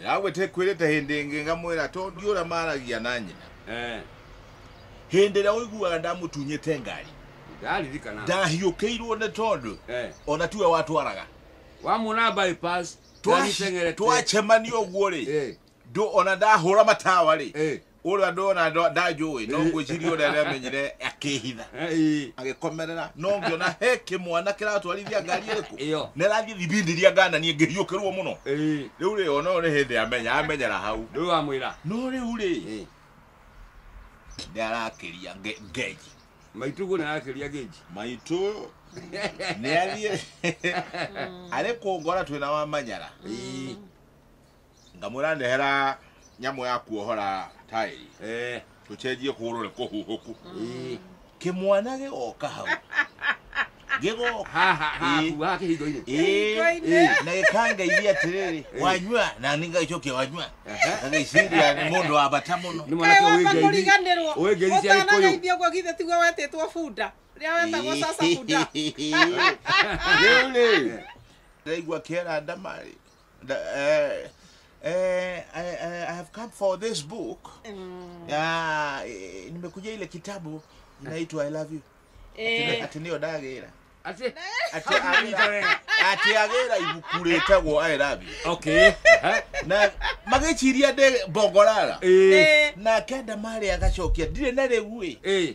ndagwĩte kwĩrĩte hĩndĩ ĩngĩ ngamwĩra to ndiũra maragia na nyina Eh, hĩndĩ ĩrĩa ũiguaga ndamũtunyĩte ngari ndaririkana ndahiũkĩirwo nĩ tondũ Eh, ona tiwe watwaraga wamuona bypass Twa- ndateng'erete. twacemanio ũguo rĩ Eh, ndũ ona ndahũra matawa rĩ eh, ũrĩa ndona ndo- ndanjũĩ no ngwĩciria ũrĩa aramenyire akĩhitha Ĩĩ. agĩkomerera no ngĩona he kĩmwana kĩratwarithia ngari ĩrĩkũ Ĩyo. nĩ rathiĩ thibindiria ngananie ngĩhiũkĩrwo mũno Ĩĩ. rĩu rĩ ona nĩ hĩndĩ amenya amenyera hau Rĩu amwĩra. no rĩu rĩ Ĩĩ. nĩ arakĩria nge- ngenji Maituguo nĩ arakĩria gĩnji. maitũ nĩ athiĩ arĩ kũngora twĩna wa manyara Ĩĩ. ngamwĩra ndehera nyamũ ya kuohora taĩri eh tũcenjie kũhũrwo nĩ kũhuhũku eh kĩmwana gĩgoka hau gĩgoka ha ha ha Ĩĩ. kuga kĩhingo-inĩ Ĩĩ, Kĩhingo-inĩ. ĩĩ, na gĩkangeithia atĩrĩrĩ Ĩĩ. wanyua na nĩ ngagĩcokia wanyua Ehe. ngagĩciria nĩ mũndũ wa bata mũno nĩ mwanake ũyũ wĩngeithi mũriganĩrwo ũyũ ngeithi cia gĩkũyũ ũtanaraithia guo githĩ tiguo wetĩtwo bunda rĩa wetagwo sasa bunda rĩu rĩ ndaigua kĩera ndama rĩ The, uh, uh, I, I, I have come for this book. Mm. Ah, eh, nimekuja ile kitabu inaitwa I love you. Eh. Ati niyo dagera. Ati ati agera. Ati agera ibuku retagwo I love you. Okay. Aha. Na magĩciria ndĩ mbongorara. Eh. Na kenda marĩ agacokia ndirĩ na rĩu ĩ. Eh.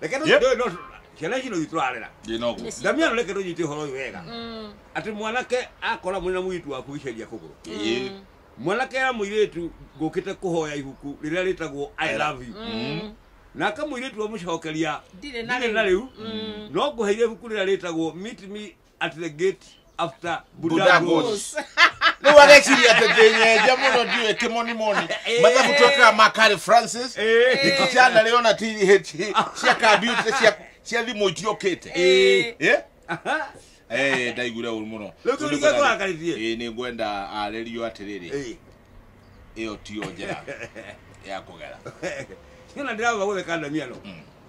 reke no Yep. no ciana ici no itwararira Ndĩ na ũguo. Nĩci- ndamia no reke no nyite horo uyu wega Mm, ati mwanake akora mwina mwitu waku iceria kuguru Ĩĩ. mm, mwanake ya muiritu ngukite kuhoya ihuku riria ritagwo i love you mm. nake muiritu amucokeria Ndirĩ na ndirĩ na rĩu." riu Mm. no nguheire ibuku riria ritagwo meet me at the gate after Budagos. Budagos. Nĩ wareciria atĩ ndĩnyenja mũno ndiũĩ kĩmonimoni Eh. mathabu twekaga ma Carl Francis Eh. ndikichana rĩ ona TH cia kambiuta cia cia thimũ itiũkĩte Eh. Eh? Aha. Eh, ndaiguire ũru mũno Rĩu tũrĩ Tũrĩ gwetha akarĩtie. Eh, nĩ ngwenda arerio atĩrĩrĩ Eh. ĩyo tiyo njĩra ya kũgera Niĩ ona ndĩrauga gũtheka ndamiano.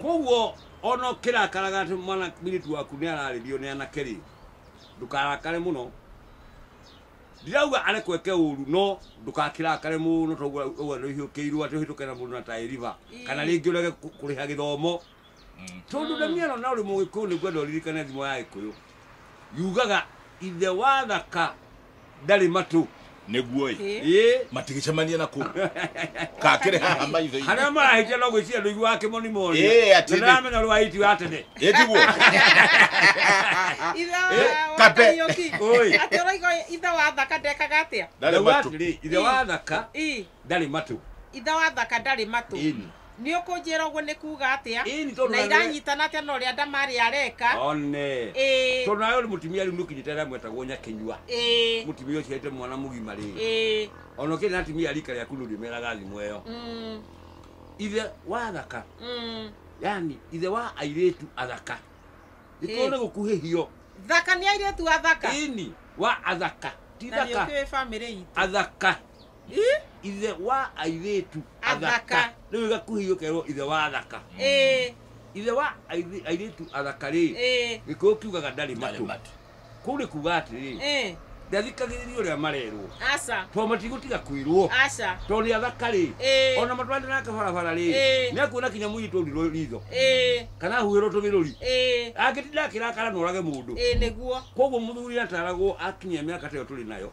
koguo ona ũkĩrakaraga atĩ mwana mũirĩtu waku nĩ ararĩrio nĩ anake rĩ ndũkarakare mũno ndirauga arekweke ũru no ndũkakirakare mũno toguo ũguo nĩ ũhiũkĩirwo atĩ ũhĩtũke na mũndũ na taĩ riba kana rĩngĩ ũrege kũ- kũrĩha gĩthomo tondũ ndaniano na ũrĩ mũgĩkũyũ nĩ ngwenda ũririkane thimo ya gĩkũyũ yugaga ithe wa thaka ndarĩ matũ nĩguo ĩ matigĩcemania na kũ kakĩrĩ haha maitho harĩa marahĩtia no gwĩciria ndũigua wa kĩmoni moni ndĩramenya rwa iti wa tene ĩtiguo kabe ũroiga ithe wa thaka ndekaga atĩa ithe wa thaka ndarĩ matũ. Ithe wa Thaka ndarĩ matũ. Ĩni. Nĩ ũkũnjĩra ũguo nĩ kuuga atĩa? Ĩni tondũ Na nawe- iranyitana atĩa na ũrĩa Ndamari areka? One. Ĩĩ. Tondũ nawe ũrĩ mũtumia rĩu nĩũkinyĩte arĩa mwetagwo Nyakĩnyua. Ĩĩ. Mũtumia ũciarĩte mwana mũgima rĩ. Ĩĩ. Ona ũkĩrĩ na atumia a rika rĩaku ndũrĩmeraga thimo ĩyo. Mm. Ithe wa Thaka, Mm. yani ithe wa airĩtu athaka. Gĩkorwo Ĩĩ. nĩ gũkuhĩhio. Thaka nĩ airĩtu athaka. Ĩni. Wa athaka. Ti Na nĩ thaka. ũkĩũĩ family itũ. Athaka. Ih, ithe wa airĩtu Athaka. athaka rĩu igakuhĩio kerwo ithe wa athaka eh, ithe wa airĩ- airĩtu athaka rĩ eh, gĩkũyũ kiugaga ndarĩ Ndarĩ matũ matũ. kũu nĩ kuga atĩrĩ eh. ndathikagĩrĩria ũrĩa marerwo Aca, tondũ matigũtiga kwĩrwo aca, tondũ nĩ athaka rĩ eh, ona matwarane nake barabara rĩ Eh. nĩ akuona kinya mũirĩtu ũrirwo ritho eh, kana ahuhĩrwo tũmĩrũri eh, angĩtinda akĩrakara norage mũndũ eh, nĩguo. koguo mũthuri ataragwo akinyia mĩaka ta ĩyo tũrĩ nayo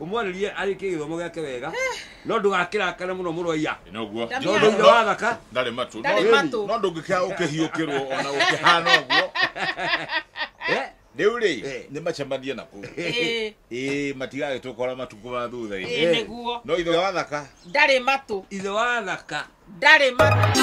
Ũmwarĩrie arĩkie gĩthomo gĩake wega no ndũgakĩrakare mũno mũrũ wa iya. Noguo. Ndamĩa. Tondũ ithe wa thaka Ndarĩ matũ. Ndarĩ No- matũ. No ndũngĩkĩra ũkĩhiũkĩrwo ona ũkĩhana ũguo. eh, Rĩu rĩ, Eh. nĩ macemanie na kũu. Ĩĩ, Ĩĩ matigagĩtũkora matukũ ma thutha-inĩ. ĩĩ nĩguo No ithe wa thaka. ndarĩ matũ ithe wa thaka. ndarĩ matũ